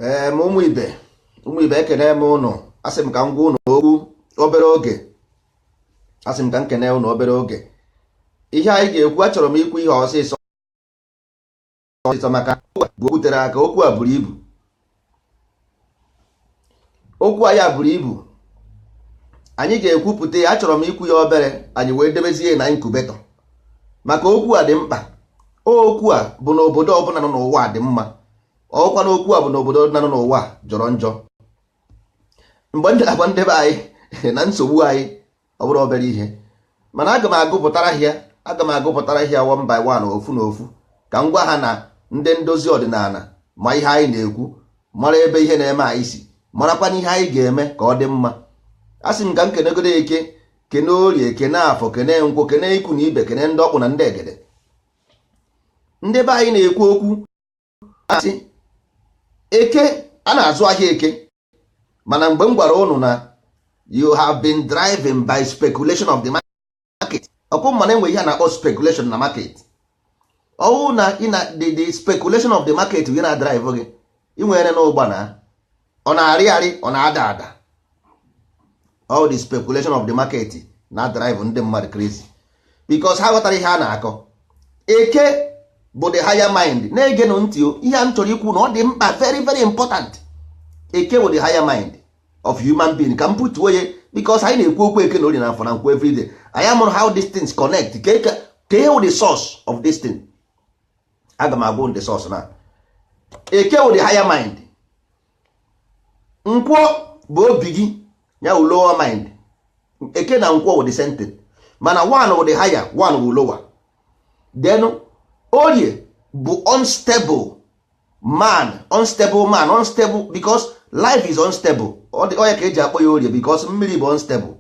ee ma ụmụ ibe ụmụ ibe ekene m ụnụ asị m ka m gwa ụnụ okwu obere oge asị m ka m kene ụnụ obere oge ihe anyị ga-ekwu achọrọ m ikwu ihe ọsịsọ ọsịsọ maka ọ bụ okwu tere aka okwu a buru ibu okwu anyị a buru ibu anyị ga-ekwupụta ya achọrọ m ikwu ya obere anyị wee debezie na incubator maka okwu a dị mkpa okwu a bụ na obodo ọbụla nọ n'ụwa dị mma ọkwa na okwu a bụ na obodo ọbụla nọ n'ụwa jọrọ njọ mgbe ndị agwa ndị be anyị na nsogbu anyị ọ bụrụ obere ihe mana aga m agụpụtara ha ya aga m agụpụtara ha ya one by one ofu na ofu ka m gwa ha na ndị ndozi ọdịnala ma ihe anyị na-ekwu mara ebe ihe na-eme anyị si marakwana ihe anyị ga-eme ka ọ dị mma asị m ka m kenegodo eke kene orie kene afọ kene nkwọ kene ikwu na ibe kene ndị ọkpụ na ndị egede ndị be anyị na-ekwu okwu asị eke a na-azụ ahịa eke mana mgbe m gwara ụnụ na you have been driven by speculation of the market ọkụ mana enwe ihe a na-akpọ speculation na market ọ wụ na the speculation of the market gị na-adrive gị ị nwere na ụgba na ọ na-arị arị ọ na-ada ada all the speculation of the market na-adrive ndị mmadụ crazy because ha aghọtarọ ihe a na-akọ eke bụ the higher mind na-egenụ ntị o ihe a m chọrọ ikwu na ọ dị mkpa very very important eke bụ the higher mind of human being ka m putuo ya because anyị na-ekwu okwu eke na orie na afọ na nkwọ everyday anyị amarọ how these things connect kee ihe wụ the source of this thing aga m agwa ụnụ the source na eke wụ the higher mind nkwọ bụ obi gị ya wụ lower mind eke na nkwọ wụ the same thing mana one wụ the higher one wụ lower then orie bụ unstable mind unstable mind unstable because life is unstable ọ ya ka eji akpọ ya orie because mmiri bụ unstable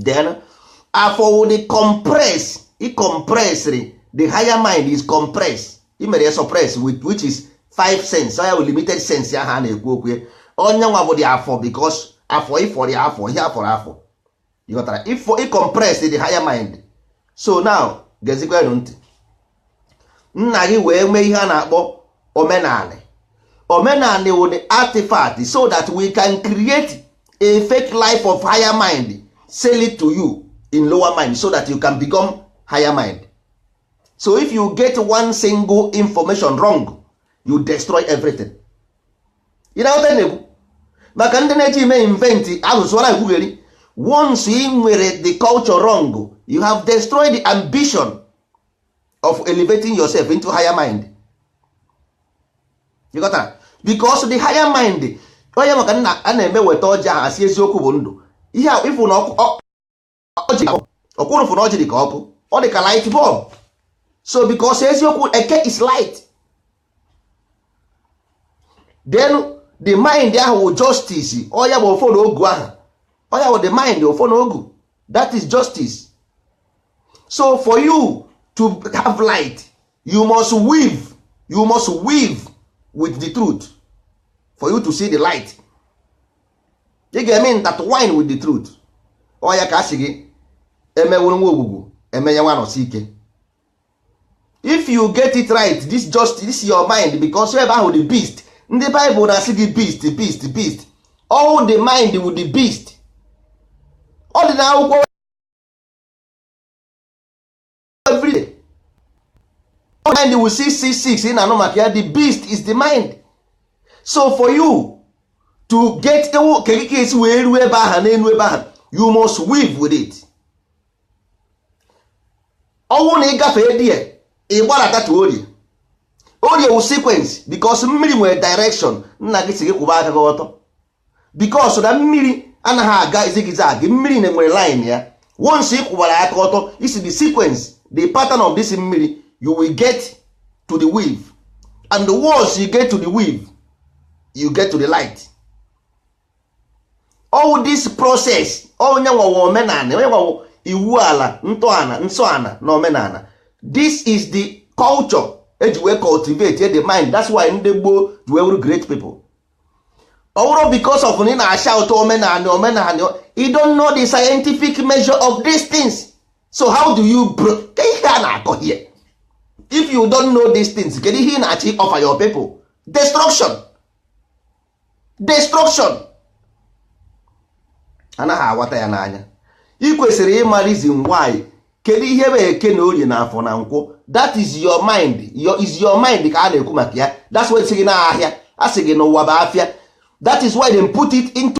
then afọ wụ the compress i compressri the higher mind is compressed i mere ya suppress which is five sense ya wụ limited sense ahụ a na-ekwu okwu ya ọ ya nwa bụ the afọ because afọ ịfọrọ ya afọ ihe afọrọ afọ ịghọtara if i compress the higher mind so now gezikwanụ ntị nna gị wee mee ihe a na-akpọ omenanị omenanị wụ the artifact so that we can create a fake life of higher mind sell it to you in lower mind so that you can become higher mind so if you get one single information wrong you destroy everything ị na-aghọta ihe m na-ekwu maka ndị na-eji ime invent asụsụ na-ekwugheri once ị nwere the culture wrong you have destroyed the ambition of elevating yourself into higher mind you got that? because the higher mind onye maka na a na-eme weta ọjị ahụ a sị eziokwu bụ ndụ ihe a ị fụ na ọkụ ọjị ọkwụrụ fụ na ọjị dị ka ọkụ ọ dị ka light bulb so because eziokwu eke is light then the mind ahụ wụ justice ọ ya bụ ọfọ na ogu ahụ ọ ya wụ the mind ọfọ na ogu that is justice so for you to have light you must weave with the truth for you to see the light ị ga-eme intertwine with the truth ọ ya ka a sị gị e mewụrụ nwa ogwugwu e menye nwa anọsike if you get it right this is your mind because ebe ahụ the beast ndị Bible na-asị gị beast beast beast ọ the mind wụ the beast ọ dị n'akwụkwọ everyday mind wụ six six six ị na-anụ maka ya the beast is the mind so for you to get ewu ka e si wee ruo ebe aha n'elu ebe aha you must weave with it ọ wụ na ị gafee there ị gbadata to orie orie wụ sequence because mmiri nwere direction nna gị sị gị kwụba aka gị ọtọ because na mmiri anaghị aga zigzag mmiri na-enwere line ya once ị kwụbara aka ọtọ ị see the sequence the pattern of this mmiri you will get to the weave and once you get to the weave you get to the light all this process ọ ya nwa wụ omenala ọ ya nwa wụ iwu ala ntọala nsọala na omenala this is the culture e ji wee cultivate the mind that's why ndị gboo ji wee wụrụ great people ọ bụrọ because of na ị na-ashout omenala omenala you don't know the scientific measure of these things so how do you bro ka ihe a na-akọ here if you don't know these things kedu ihe ị na-achọ ị offer your people destruction destruction a naghị aghọta ya n'anya ị kwesịrị ịma reason why kedu ihe bụ eke na orie na afọ na nkwọ that is your mind is your mind ka a na-ekwu maka ya that's why sị gị na ahịa a sị gị na ụwa bụ afịa that is why they put it into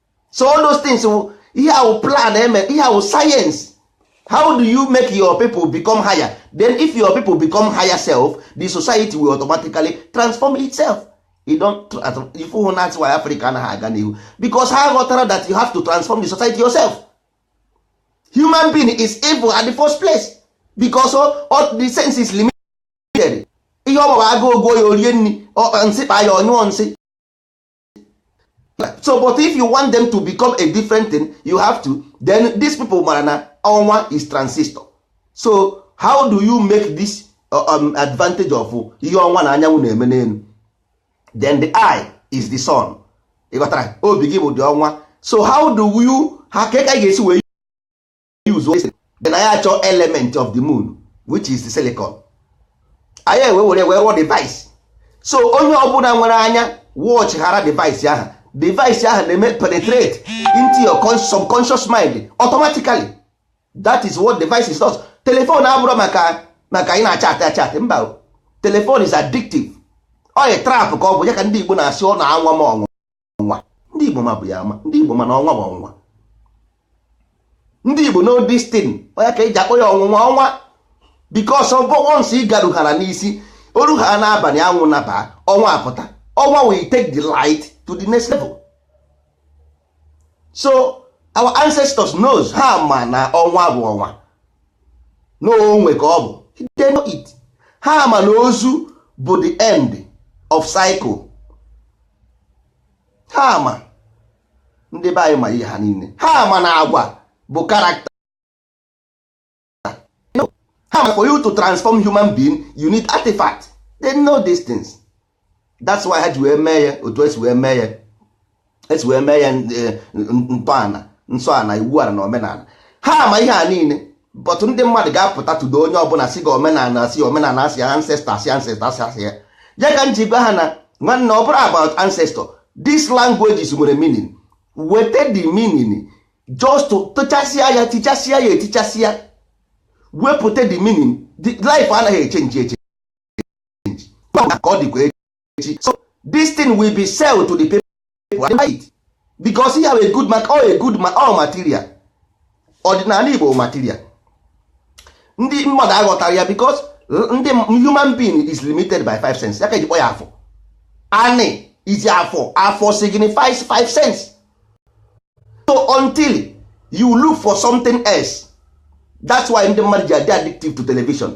so all those things ihe a wụ plan e me ihe a wụ science how do you make your people become higher then if your people become higher self the society will automatically transform itself ị fụrụ na why africa anaghị aga n'ihu because ha ghọtara that you have to transform the society yourself human being is evil at the first place because all the sense is limited ihe ọ maara agụụ gụọ ya o rie nri nsị kpa ya ọ nyụọ nsị so but if you want them to become a different thing you have to then these people mara na ọnwa is transistor so how do you make this uh, um, advantage of ihe ọnwa na anyanwụ na-eme n'elu then the eye is the sun ịghọtara obi gị bụ the ọnwa so how do you ha ka ị ga-esi wee use ese then anyị achọ element of the moon which is the silicon anyị ewee were wee rụọ device so onye ọbụla nwere anya watch ghara device ahụ device ahụ na-eme penetrate into your subconscious mind automatically that is what devices does telephone abụrọ maka maka ị na-achatị achatị mba telephone is addictive ọ trap ka ọ bụ ya ka ndị Igbo na-asị ọ na-anwa m ọnwụ ọnwa ndị Igbo ma bụ ya ama ndị Igbo ma na ọnwa bụ ọnwa ndị Igbo know this thing ọ ya ka eji akpọ ya ọnwụnwa ọnwa because of once ị garuhara n'isi oru ha n'abalị anwụ naba ọnwa apụta ọnwa will take the light to the next level so our ancestors knows ha ma na ọnwa bụ ọnwa na ọnwa ka ọ bụ they know it ha ma na ozu bụ the end of cycle ha ma ndị be anyị ma ihe ha niile ha ma na agwa bụ character ha ma for you to transform human being you need artifact they know these things that's why ha ji wee mee ya otu esi wee mee ya esi wee mee ya eh, ntọala nsọ ana iwu ala na omenala ha ma ihe a niile but ndị mmadụ ga-apụta today onye ọbụla sị gị omenala sị omenala asị ancestor asị ancestor asị asị ya ya ka m ji gwa ha na nwanne ọ bụrọ about ancestor this languages nwere meaning weta the meaning just tụchasịa ya tichasịa ya etichasịa wepụta the meaning life anaghị echenji echenji ka ọ dịkwa echi so this thing will be sell to the people and buy it because he have a good mark or a good ma all material ọdịnala Igbo material ndị mmadụ aghọtarọ ya because ndị human being is limited by five sense ya ka eji kpọ ya afọ anị is afọ afọ signifies five sense so until you look for something else that's why ndị mmadụ ji adị addictive to television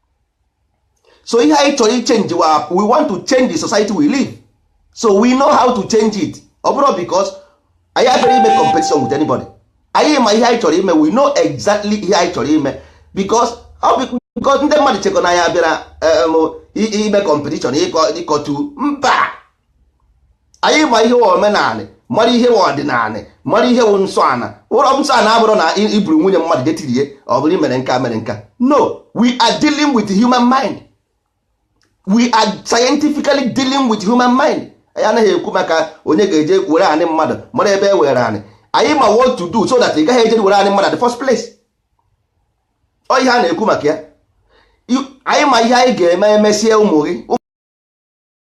so ihe anyị chọrọ ichenji we want to change the society we live so we know how to change it ọ bụrọ because anyị bịara ime competition with anybody anyị ma ihe anyị chọrọ ime we know exactly ihe anyị chọrọ ime because ndị mmadụ chekọ na anyị bịara um, ime competition ịkọtu mba anyị ma ihe omenala mara ihe ọdịnala mara ihe wụ nsọ ana ụrọ nsọ ana abụrọ na iburu nwunye mmadụ jetirie ọ bụrụ mere nka mere nka no we are dealing with human mind we are scientifically dealing with human mind anyị anaghị ekwu maka onye ga-eje were anị mmadụ mara ebe e were anị anyị ma what to do so that ị gaghị eje were anị mmadụ at the first place ọ ihe a na-ekwu maka ya anyị ma ihe anyị ga-eme emesie ụmụ gị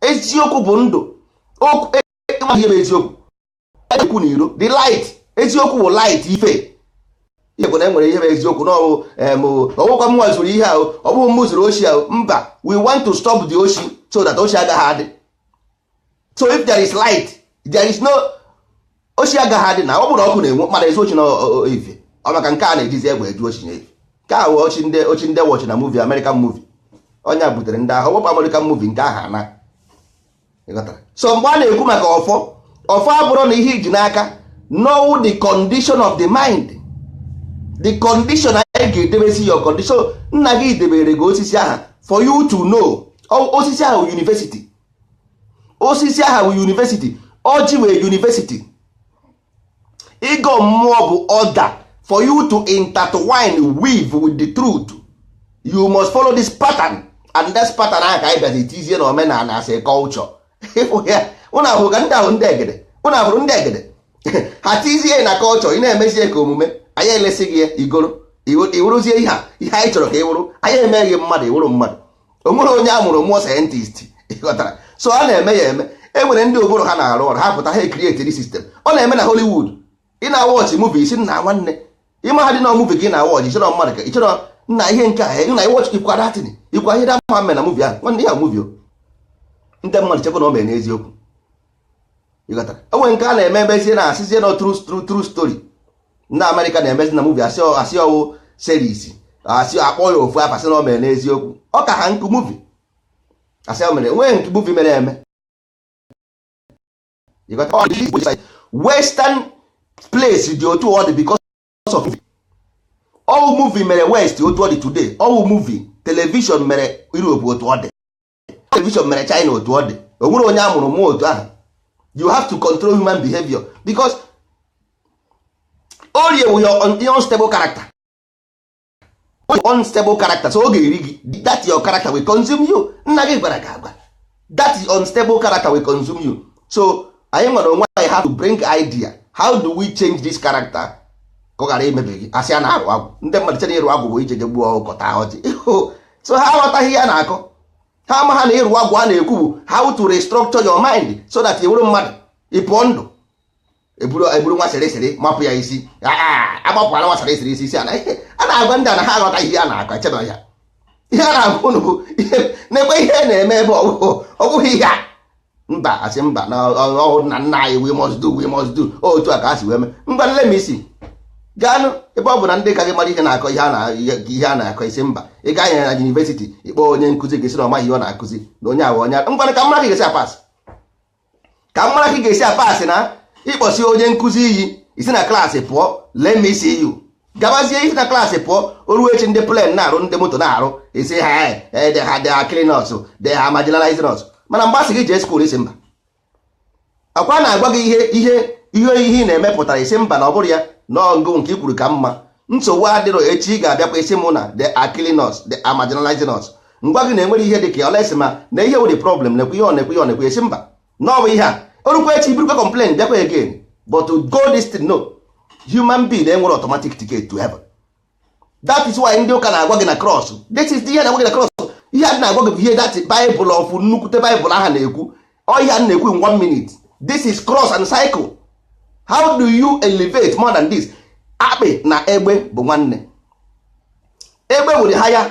eziokwu bụ ndụ okwu e, e, e, ihe bụ eziokwu ekwu na iro the light eziokwu bụ light ife ihe bụ na enwere ihe bụ eziokwu na ọ wụkwa mwa zuru ihe ahụ ọ bụghị mụ zuru oshi ahụ mba we want to stop the oshi so that oshi agaghị adị so if there is light there is no oshi agaghị adị na ọ bụrụ ọkụ na-enwu mmadụ ezu oshi na ife ọ maka nke a na-ejizi egbe ezu oshi na ife nke a wụ oshi ndị oshi ndị watch na movie American movie onye a butere ndị ahụ wepụ American movie nke aha na ịghọtara so mgbe a na-ekwu maka ọfọ ọfọ abụrọ na ihe iji n'aka na ọ wụ the condition of the mind the condition anyị ga-edebezi your condition nna gị debere gị osisi aha for you to know O- osisi aha wụ university osisi aha bụ university ọjị wụ university ịgọ mmụọ bụ order for you to intertwine weave with the truth you must follow this pattern and this pattern ahụ ka anyị bịazi tizie na omenala as a culture ịfụ ya ụnụ abụrụ ka ndị ahụ ndị egede ụnụ abụrụ ndị egede ha tizie na culture ị na-emezie ka omume anyị elesi gị ya i goro ị wụrụzie ihe a ihe anyị chọrọ ka ị wụrụ anyị eme gị mmadụ ị wụrụ mmadụ o nwere onye a mụrụ mụọ scientist ịghọtara so a na-eme ya eme e nwere ndị ụbụrụ ha na-arụ ọrụ ha pụta ha ekrietiri system ọ na-eme na Hollywood ị na-awatch movie isi nna nwanne ịma ha dị na movie ka ị na-awatch ịchọrọ mmadụ ka ịchọrọ nna ihe nke a nna ị watch ikwa datin ikwa ihe dị mma na movie ahụ nwanne ya movie ndị mmadụ chekwa na o mere n'eziokwu e nwee nke a na-eme emezie na a sịzie na true true true story ndị America na-emezi na movie asị asị ọ wụ series asị akpọ ya ofu afa sị na o mere n'eziokwu ọ ka ha nkụ movie asị o mere nwee nke movie mere eme ịghọtara western place dị otu ọ dị because of ọ wụ movie mere west otu ọ dị today ọ wụ movie television mere europe otu ọ dị television mere china otu ọ dị o nwere onye a mụrụ mụọ otu ahụ you have to control human behavior because orie wụ your unstable character unstable character so ọ ga-eri gị that your character will consume you nna gị gwara gị agwa that unstable character will consume you so anyị nwere onwe anyị have to bring idea how do we change this character ka ọ ghara imebi gị asị a na-arụ agwụ ndị mmadụ chere ịrụ agwụ bụ ije je gbuo ọkụkọ taa ọjị so ha aghọtaghị ihe a na-akọ ha amaha na ịrụ agwụ a na-ekwu bụ how to restructure your mind so that ị wụrụ mmadụ ị pụọ ndụ eburu eburu nwa sịrị sịrị mapụ ya isi Ah, ah, agbapụkwala nwa sịrị sịrị isi isi a na ihe a na-agwa ndị a na ha aghọta ihe a na-akọ echebe ya ihe a na-agwa unu bụ ihe nekwe ihe na-eme ebe ọ bụghị- ọ bụghị ihe a mba asị mba na ọ nna nna anyị we must do we must do otu a ka a si wee mee ngwanụ let me see gaanụ ebe ọ bụ na ndị ka gị mara ihe na-akọ ihe a na-akọ ị sị mba ị ga-eje na university ị kpọọ onye nkụzi gị sị na ọ maghị ihe ọ na-akụzi na onye a wụ onye ara ngwa ka m mara ka ị ga-esi apasị ka m mara ka ị ga-esi apasị na ị kpọsị onye nkụzi iyi ị si na class pụọ let me see you gabazie ị si na class pụọ o ruo echi ndị plane na-arụ ndị moto na-arụ ị sị ha they are killing us they are marginalizing us mana mgbe a sị gị jee school ị sị mba ọkwa a na-agwa gị ihe ihe ihe ihe ị na-emepụtara ị sị mba na ọ bụrụ ya n'ọgụ nke i kwuru ka mma nsogbu adịrọ echi ị ga-abịakwa ị sị mụ na they are killing us they are marginalizing us ngwa gị na-enwere ihe dị ka olesi ma na ihe wụ the problem nekwe ihe ọ nekwe ihe ọ nekwe ị sị mba na ọ bụ ihe a o rukwa echi burukwa complain bịakwa again but to go this thing no human being enwere automatic ticket to heaven that is why ndị ụka na-agwa gị na cross this is the ihe na-agwa gị na cross ihe a na-agwa gị bụ ihe that Bible of nnukwute Bible ahụ na-ekwu ọ ihe a na-ekwu in one minute this is cross and cycle how do you elevate more than this akpị na egbe bụ nwanne egbe wụ the higher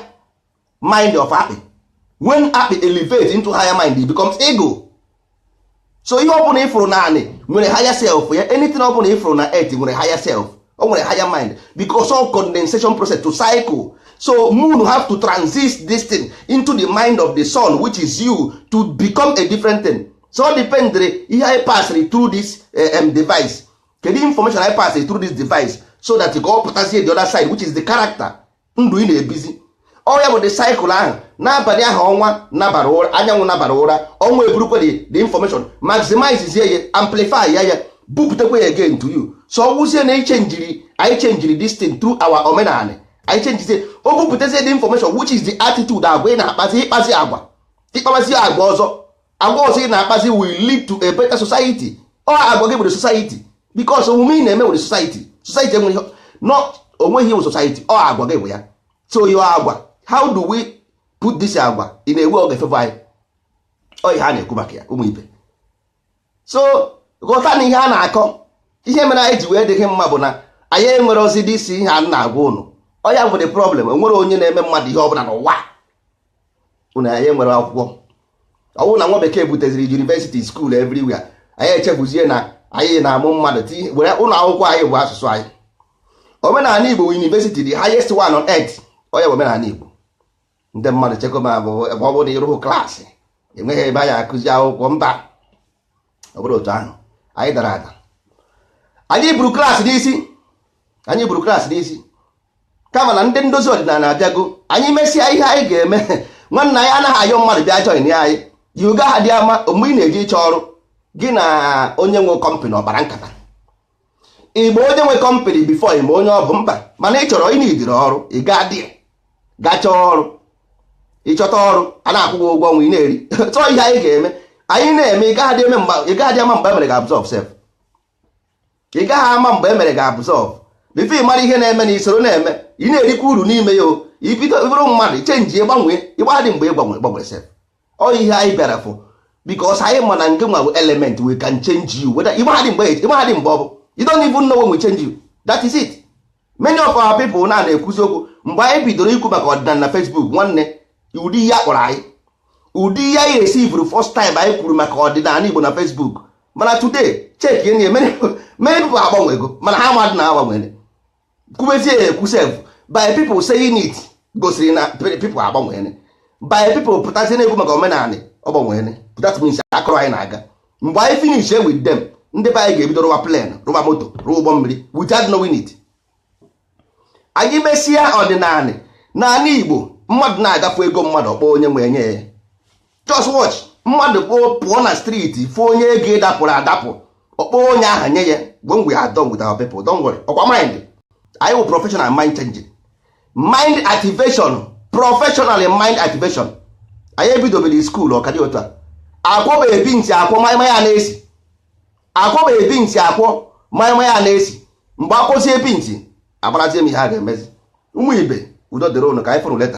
mind of akpị when akpị elevate into higher mind it becomes eagle so ihe ọ bụla ị fụrụ n'anị nwere higher self ya anything ọ bụla ị fụrụ na earth nwere higher self o nwere higher mind because of condensation process to cycle so moon have to transist this thing into the mind of the sun which is you to become a different thing so ọ dependere ihe anyị pasịrị through this um, device kedu information anyị pasịrị through this device so that ka ọ pụtazie the other side which is the character ndụ ị na-ebizi ọ ya bụ the cycle ahụ n'abalị ahụ ọnwa nabara ụra anyanwụ nabara ụra ọnwa eburukwa the information maximizezie ya amplify ya ya bupụtakwa ya again to you so ọ wụzie na ichenjiri anyị chenjiri this thing through our omenala anyị chenjizie o bupụtazie the information which is the attitude agwa ị na-akpazi ị kpazi agwa ị kpabazi agwa ọzọ agwa ọzọ ị na-akpazi will lead to a better society ọ agwa gị bụ the society because omume ị na-eme wụ the society society enweghị no o nweghị ihe wụ society ọ agwa gị bụ ya so your agwa how do we put this agwa in a way ọ ga-efevọ anyị ọ ihe a na-ekwu maka ya ụmụ ibe so ghọtanụ ihe a na-akọ ihe mere anyị ji wee dịghị mma bụ na anyị enwerọzị this ihe a na-agwa ụnụ ọ ya wụ the problem o nwerọ onye na-eme mmadụ ihe ọbụla n'ụwa ụna anyị nwere akwụkwọ ọwụ na nwa bekee buteziri university school everywhere anyị echefuzie na anyị na-amụ mmadụ were ụlọ akwụkwọ anyị bụ asụsụ anyị omenala igbo university the highest one on earth ọ ya bụ omenala igbo ndị mmadụ chekwa ma ọ bụ na ịrụhụ klaasị enweghị ebe anyị akụzi akwụkwọ mba ọ bụrụ otu ahụ anyị dara ada anyị buru klaasị n'isi anyị buru klaasị n'isi kama na ndị ndozi ọdịnala abịago anyị mesịa ihe anyị ga-eme nwanna anyị anaghị ayọ mmadụ bịa join anyị ị gaghadị ama mgbe ị na-eje ịchọ ọrụ gị na onye nwe kọmpanị ọ kpara nkata igbo onye nwe kọmpanị before ị ma onye ọ bụ mba mana ị chọrọ ị needịrị ọrụ ị gaa dị gaa chọọ ọrụ ị chọta ọrụ a na-akwụ gị ụgwọ ọnwa ị na-eri chọọ ihe anyị ga-eme anyị na-eme ị gaghị ama mgbe emere gị absorb sef ị gaghị ama mgbe emere gị absorb before ị mara ihe na-eme na i soro na-eme ị na-erikwa uru n'ime ya o i bido bụrụ mmadụ chenji gbanwee ịmadị mgbe ị gbanwere gbanwere sef ọ ihe anyị bịara fụ because anyị ma na nke nwa bụ element we can change you whether ịmaghadị mgbe ịmaghadị mgbe ọ bụ you don't even know when we change you that is it many of our people na na-ekwuzi okwu mgbe anyị bidoro ikwu maka ọdịnala na Facebook nwanne ụdị ihe a kpọrọ anyị ụdị ihe anyị resivuru first time anyị kwuru maka ọdịnala Igbo na Facebook mana today check ihe niile many people agbanwego mana ha amadị na ha gbanwere kwubezie ya ekwu sef by people saying it gosiri na people agbanwere by people pụtazie na-ekwu maka omenala ọ gbanwere that means aka ọrụ anyị na-aga mgbe anyị finish with them ndị be anyị ga-ebido rụwa plen rụwa moto rụwa ụgbọ mmiri without knowing it anyị mesịa ọdịnala n'anị igbo mmadụ na-aga fụ ego mmadụ ọ kpọọ onye nwe e nye ya just watch mmadụ kpoo pụọ na street fụ onye ego dapụrụ adapụ ọ kpọọ onye ahụ nye ya when we are done with our people don't worry ọ kwa mind anyị wụ professional mind changing mind activation professional mind activation anyị ebidobere school ọ ka dị otu a akwọba ebi ntị akwọ maịma ya na-esi akwọba ebi ntị akwọ maịma ya na-esi mgbe akwụsị ebi ntị agbarazie m ihe a ga-emezi ụmụ ibe udo dịrị ụnụ ka anyị fụrụ later